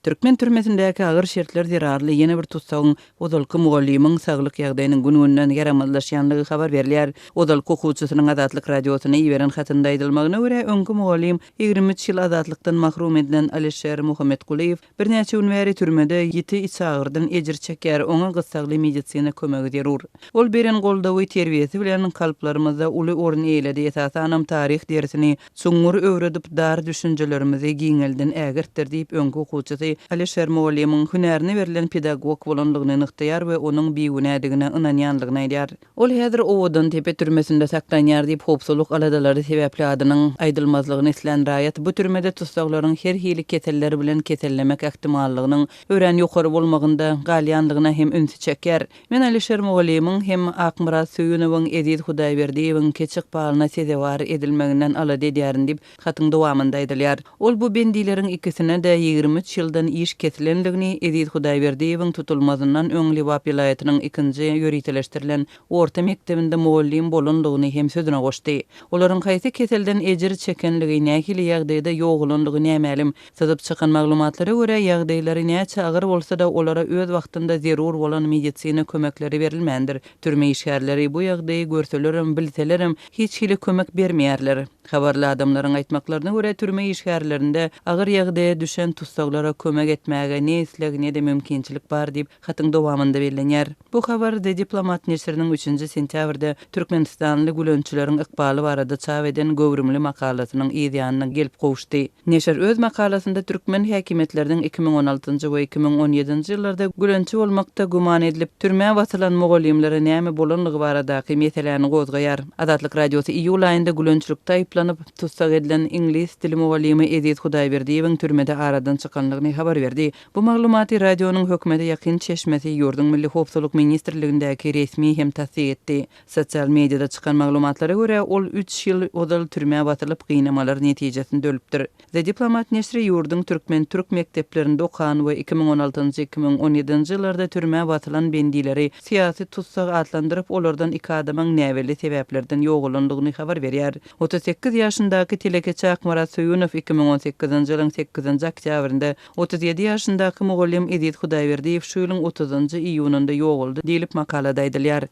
Türkmen türmesindäki agyr şertler zerarly ýene bir tussagyň ozalky mugallymyň saglyk ýagdaýynyň gün-günden ýaramazlaşýandygy habar berilýär. Ozalky okuwçysynyň Azatlyk Radiosyna iberen hatynda aýdylmagyna görä, öňki mugallym ýigrimi üç ýyl azatlykdan mahrum edilen Alişer Muhammetgulyýew birnäçe gün bäri türmede ýiti içagyrdan ejir çekýär, oňa gyssagly medisina kömegi zerur. Ol beren goldawy, terbiýesi bilen kalplarymyzda uly orun eýeledi, esasanam taryh dersini Çuňňur öwredip, dar düşünjelerimizi giňelden ägirtdir diýip, öňki okuwçysy Alyşer mugallymyň hünärine berlen pedagog bolandygyny nygtaýar we onuň bigünädigine ynanýandygyny aýdýar. Ol häzir Owadantepe türmesinde saklanýar diýip, howpsuzlyk aladalary sebäpli adynyň aýdylmazlygyny islän raýat bu türmede tussaglaryň her hili keseller bilen kesellemek ähtimallygynyň örän ýokary bolmagynda galýandygyna hem ünsi çekýär. Men Alişer mugallymyň hem Akmyrat Söýünowyň, Eziz Hudaýberdiýewiň keçi ykbalyna sezewar edilmeginden alada edýärin diýip, hatyň dowamynda aýdylýar. Ol bu bendileriň ikisine-de ýigrimi üç ýyldan iş kesilendigini, Eziz Hudaýberdiýewiň tutulmazyndan öň Lebap welaýatynyň ikinji ýöriteleşdirilen orta mekdebinde mugallym bolandygyny hem sözüne goşdy. Olaryň haýsy keselden ejir çekenligi, nähili ýagdaýda ýogalandygy nämälim, Syzyp çykan maglumatlara görä, ýagdaýlary näçe agyr bolsa-da, olara öz wagtynda zerur bolan medisina kömekleri berilmändir. Türme işgärleri bu ýagdaýy görselerem, bilselerem, hiç hili kömek bermeýärler. Habarly adamlaryň aýtmaklaryna görä, türme işgärlerinde agyr ýagdaýa düşen tussaglara kömek etmäge ne isleg, ne-de mümkinçilik bar diýip, Hatyň dowamynda bellenýär. Bu habar The Diplomat neşiriniň üçünji sentýabrda türkmenistanly gülençileriň ykbaly barada çap eden göwrümli makalasynyň yz ýanyna gelip gowuşdy. Neşir öz makalasynda türkmen häkimiýetleriniň iki müň on altynjy we iki müň on ýedinji ýyllarda gülençi bolmakda güman edilip, türmä basylan mugallymlara näme bolanlygy baradaky meseläni gozgaýar. Azatlyk Radiosy iýul aýynda gülençilikde aýyplanyp, tussag edilen iňlis dili mugallymy Eziz Hudaýberdiýewiň türmede aradan çykanlygyny habar berdi. Bu maglumaty radionyň hökümete ýakyn çeşmesi ýurduň Milli howpsuzlyk ministrligindäki resmi hem tassyk etdi. Sosial mediada çykan maglumatlara görä, ol üç ýyl ozal türmä basylyp, gynamalar netijesinde ölüpdir. The Diplomat neşri ýurduň türkmen-türk mekdeplerinde okan we iki müň on altynjy-iki müň on ýedinji ýyllarda türmä basylan bendileri syýasy tussag atlandyryp, olardan iki adamyň näbelli sebäplerden ýogalandygyny habar berýär. Otuz sekiz ýaşyndaky telekeçi Akmyrat Söýünow iki müň on sekizinji ýylyň sekizinji oktýabrynda Otuz ýedi ýaşyndaky mugallym Eziz Hudaýberdiýew şu ýylyň otuzynjy iýunynda ýogaldy diýlip, makalada aýdylýar.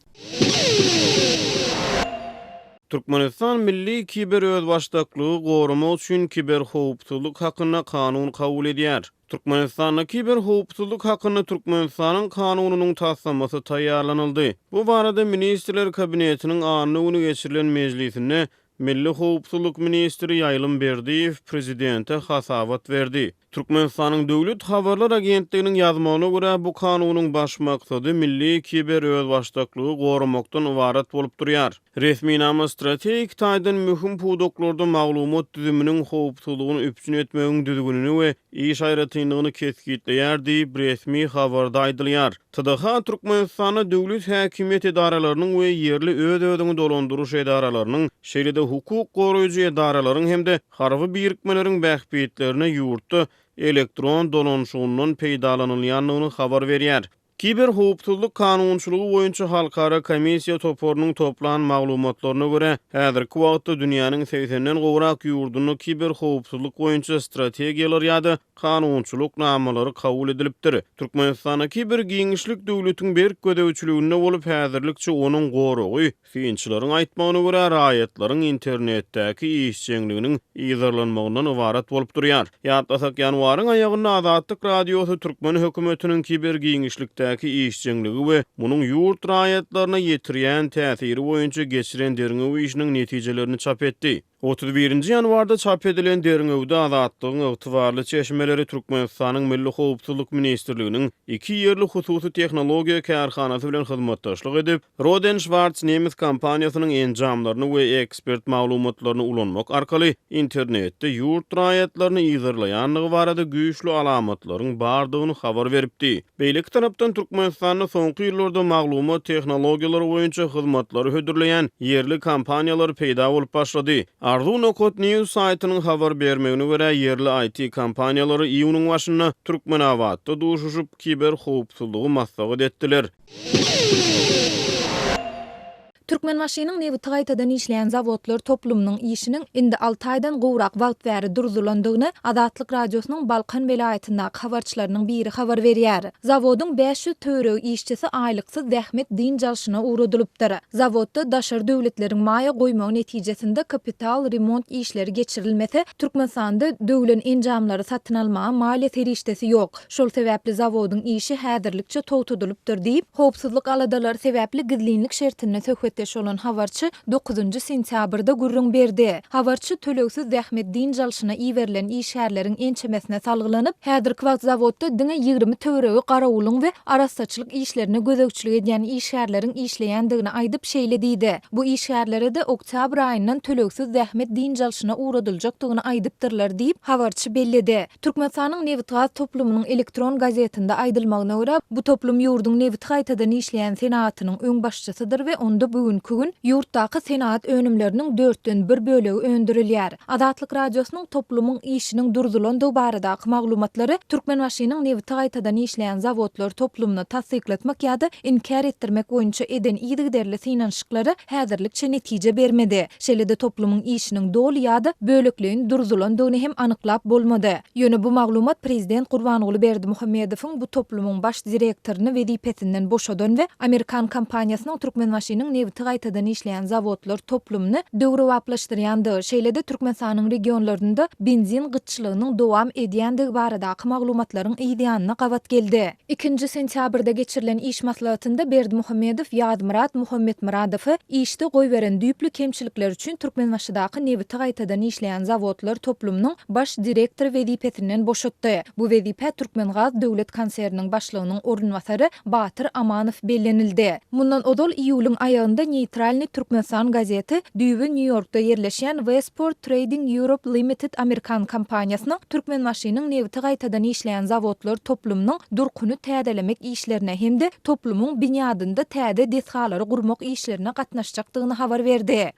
Türkmenistan milli kiberözbaşdaklygy goramak üçin kiberhowpsuzlyk hakynda kanun kabul edýär. Türkmenistanda kiberhowpsuzlyk hakynda Türkmenistanyň Kanunynyň taslamasy taýýarlanyldy. Bu barada Ministrler Kabinetiniň anna güni geçirilen mejlisinde Milli howpsuzlyk ministri Ýaýlym Berdiýew prezidente hasabat berdi. Türkmenistanyň Döwlet habarlar agentliginiň ýazmagyna görä, bu kanunyň baş maksady milli kiberözbaşdaklygy goramakdan ybarat bolup durýar. Resminama strategik taýdan möhüm pudaklarda maglumat düzüminiň howpsuzlygyny üpjün etmegiň düzgünini we iş aýratynlygyny kesgitleýär diýip, resmi habarda aýdylýar. TDH Türkmenistanda döwlet häkimiýet edaralarynyň we ýerli öz-özüňi dolandyryş edaralarynyň, şeýle-de hukuk goraýjy edaralaryň hem-de harby birikmeleriň bähbitlerine ýurtda elektron dolanyşygyndan peýdalanylýandygyny habar berýär. Kiberhowpsuzlyk kanunçylygy boýunça halkara komissiýa toparynyň toplan maglumatlaryna görä, häzirki wagtda dünýäniň segsenden gowrak ýurdunda kiberhowpsuzlyk boýunça strategiýalar ýa-da kanunçylyk namalary kabul edilipdir. Türkmenistandaky bir giňişlik döwletiň berk gözegçiliginde bolup, häzirlikçe onuň goragy, synçylaryň aýtmagyna görä, raýatlaryň internetdäki işjeňliginiň yzarlanmagyndan ybarat bolup durýar. Ýatlasak, ýanwaryň aýagynda Azatlyk Radiosy türkmen hökümetiniň kiber giňişlikdäki işjeňligi we munuň ýurt raýatlaryna ýetirýän täsiri boýunça geçiren derňew işiniň netijelerini çap etdi. Otuz birinji ýanwarda çap edilen derňewde Azatlygyň ygtybarly çeşmeleri Türkmenistanyň Milli howpsuzlyk ministrliginiň iki ýerli hususy tehnologiýa kärhanasy bilen hyzmatdaşlyk edip, Roden Schwarz nemes kompaniýasynyň enjamlaryny we ekspert maglumatlaryny ulanmak arkaly internetde ýurt raýatlaryny yzarlaýandygy barada güýçli alamatlaryň bardygyny habar beripdi. Beýleki tarapdan Türkmenistanda soňky ýyllarda maglumat tehnologiýalary boýunça hyzmatlary hödürleýän ýerli kompaniýalar peýda bolup başlady. Arzuw Nokat News saýtynyň habar bermegine görä, ýerli IT kompaniýalary iýunyň başynda Türkmenabatda duşuşyp, kiberhowpsuzlygy maslahat etdiler. Türkmenbaşynyň nebiti gaýtadan işleýän zawodlar toplumynyň işiniň indi alty aýdan gowrak wagt bäri durzulandygyny Azatlyk Radiosynyň Balkan welaýatyndaky habarçylarynyň biri habar berýär. Zawodyň bäş ýüz töweregi işçisi aýlyksyz zähmet dynç alşyna ugradylypdyr. Zawodda daşary döwletleriň maýa goýmagy netijesinde kapital remont işleri geçirilmese, Türkmenistanda döwlen enjamlary satyn almaga maliýe serişdesi ýok. Şol sebäpli zawodyň işi häzirlikçe togtadylypdyr diýip, howpsuzlyk aladalary sebäpli gizlinlik şertinde söhbetdeş bolan habarçy dokuzynjy sentýabrda gürrüň berdi. Habarçy tölegsiz zähmet dynç alşyna iberilen işgärleriň ençemesine salgylanyp, häzirki wagt zawodda diňe ýigrimi töweregi garawulyň we arassaçylyk işlerine gözegçilik edýän işgärleriň işleýändigini aýdyp, şeýle diýdi, Bu işgärlere-de oktýabr aýyndan tölegsiz zähmet dynç alşyna ugradyljakdygyny aýdypdyrlar diýip, habarçy belledi. Türkmenistanyň nebitgaz toplumynyň elektron gazetinde aýdylmagyna görä, bu toplum ýurduň nebiti gaýtadan işleýän senagatynyň öňbaşçysydyr we onda bu günki gün ýurtdaky senagat önümleriniň dörtden bir bölegi öndürilýär. Azatlyk Radiosynyň toplumyň işiniň durzulandygy baradaky maglumatlary Türkmenbaşynyň nebiti gaýtadan işleýän zawodlar toplumyna tassyklatmak ýa-da inkär etdirmek boýunça eden yzygiderli synanyşyklary häzirlikçe netije bermedi. Şeýle-de toplumyň işiniň doly ýa-da bölekleýin durzulandygyny hem anyklap bolmady. Ýöne bu maglumat prezident Gurbanguly Berdimuhamedowyň bu toplumyň baş direktoryny wezipesinden boşadan we amerikan kompaniýasynyň Türkmenbaşynyň nebiti gaýtadan işleýän zawodlar toplumyny döwrebaplaşdyrýandygy, şeýle-de Türkmenistanyň regionlarynda benzin gytçylygynyň dowam edýändigi baradaky maglumatlaryň yzýanyna gabat geldi. Ikinji sentýabrda geçirilen iş maslahatynda Berdimuhamedow Ýazmyrat Muhammetmyradowy işde goýberen düýpli kemçilikler üçin Türkmenbaşydaky nebiti gaýtadan işleýän zawodlar toplumynyň baş direktory wezipesinden boşatdy. Bu wezipä Türkmengaz döwlet konserniniň başlygynyň orunbasary Batyr Amanow bellenildi. Mundan ozal, iýulyň aýagynda Neýtralnyý Türkmenistan gazeti düýbi Nýu-Ýorkda ýerleşýän Westport Trading Europe Limited amerikan kompaniýasynyň Türkmenbaşynyň nebiti gaýtadan işleýän zawodlar toplumynyň durkuny täzelemek işlerine hem-de toplumyň binýadynda täze desgalary gurmak işlerine gatnaşjakdygyny habar berdi.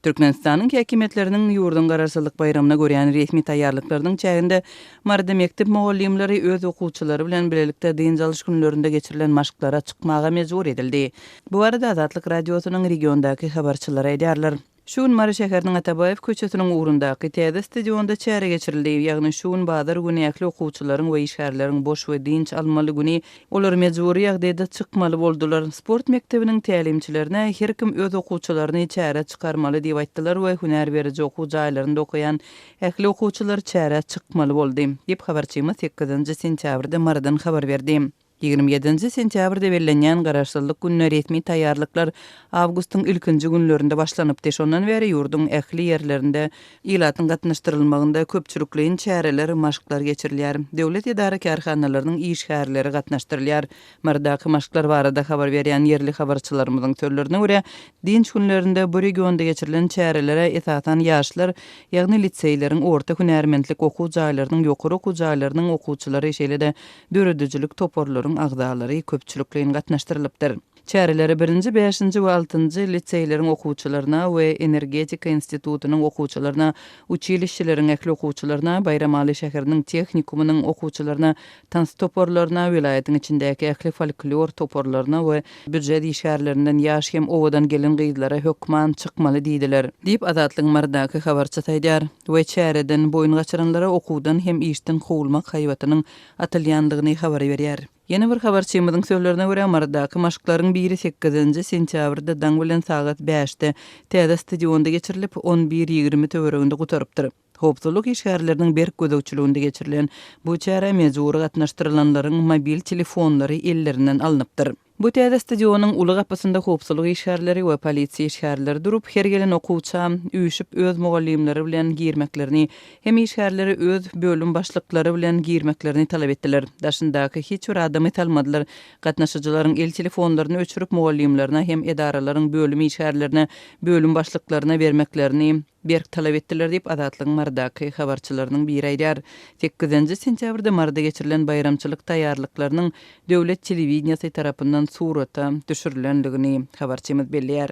Türkmenistanyň häkimiýetleriniň ýurduň Garaşsyzlyk baýramyna görýän resmi taýýarlyklarynyň çäginde Maryda mekdep mugallymlary öz okuwçylary bilen bilelikde dynç alyş günlerinde geçirilen maşklara çykmaga mejbur edildi. Bu barada Azatlyk Radiosynyň regiondaky habarçylary aýdýarlar. Şu gün Mary şäheriniň Atabaýew köçesiniň ugrundaky täze stadionda çäre geçirildi, ýagny şu gün bazar güni ähli okuwçylaryň we işgärleriň boş we dynç almaly güni Olar mejbury ýagdaýda çykmaly boldular. Sport mekdebiniň tälimçilerine her kim öz okuwçylaryny çärä çykarmaly diýip aýtdylar we hünär beriji okuw jaýlarynda okaýan ähli okuwçylar çärä çykmaly boldy, diýip, habarçymyz sekizinji sentýabrda Marydan habar berdi. Ýigrimi ýedinji sentýabrda bellenýän Garaşsyzlyk gününe resmi taýýarlyklar awgustyň ilkinji günlerinde başlanypdy, şondan bäri ýurduň ähli ýerlerinde Ilatyň gatnaşdyrylmagynda köpçülikleýin çäreler, maşklar geçirilýär. Döwlet edara-kärhanalarynyň işgärleri gatnaşdyrylýar. Mardaky maşklar barada habar berýän ýerli habarçylarymyzyň sözlerine görä, dynç günlerinde bu regionda geçirilen çärelere esasan ýaşlar, ýagny liseýleriň, orta hünärmentlik okuw jaýlarynyň, ýokary okuw jaýlarynyň okuwçylary, şeýle-de döredijilik toparlaryň agzalary köpçülikleýin gatnaşdyrylypdyr. Çärelere birinji, bäşinji we altynjy liseýleriň okuwçylaryna we Energetika institutynyň okuwçylaryna, uçilişeleriň ähli okuwçylaryna, Baýramaly şäheriniň tehnikumynyň okuwçylaryna, tans toparlaryna, welaýatyň içindäki ähli folklor toparlaryna we býujet işgärlerinden ýaş hem owadan gelin-gyzlara hökman çykmaly diýdiler. Diýip, Azatlygyň Marydaky habarçysy aýdýar we çäreden boýun gaçyranlara okuwdan hem işden kowulmak haýbatynyň atylýandygyny habar berýär. Ýene bir habarçymyzyň sözlerine görä, Marydaky maşklaryň biri sekizinji sentýabrda daň bilen sagat bäşde täze stadionda geçirilip, on bir ýigrimi töwereginde gutarypdyr. Howpsuzlyk işgärleriniň berk gözegçiliginde geçirilen bu çärä mejbury gatnaşdyrylanlaryň mobil telefonlary ellerinden alnypdyr. Bu täze stadionyň uly gapysynda howpsuzlyk işgärleri we polisiýa işgärleri durup, her gelen okuwça, üýşüp, öz mugallymlary bilen girmeklerini hem işgärleri öz bölüm başlyklary bilen girmeklerini talap etdiler. Daşyndaky hiç bir adamy salmadylar. Gatnaşyjylaryň el telefonlaryny öçürip mugallymlaryna hem edaralaryň bölüm işgärlerine, bölüm başlyklaryna bermeklerini berk talap etdiler diýip Azatlygyň Marydaky habarçylarynyň biri aýdýar. Sekizinji sentýabrda Maryda geçirilen baýramçylyk taýýarlyklarynyň döwlet telewideniýesi tarapyndan surata düşürilendigini habarçymyz belleýär.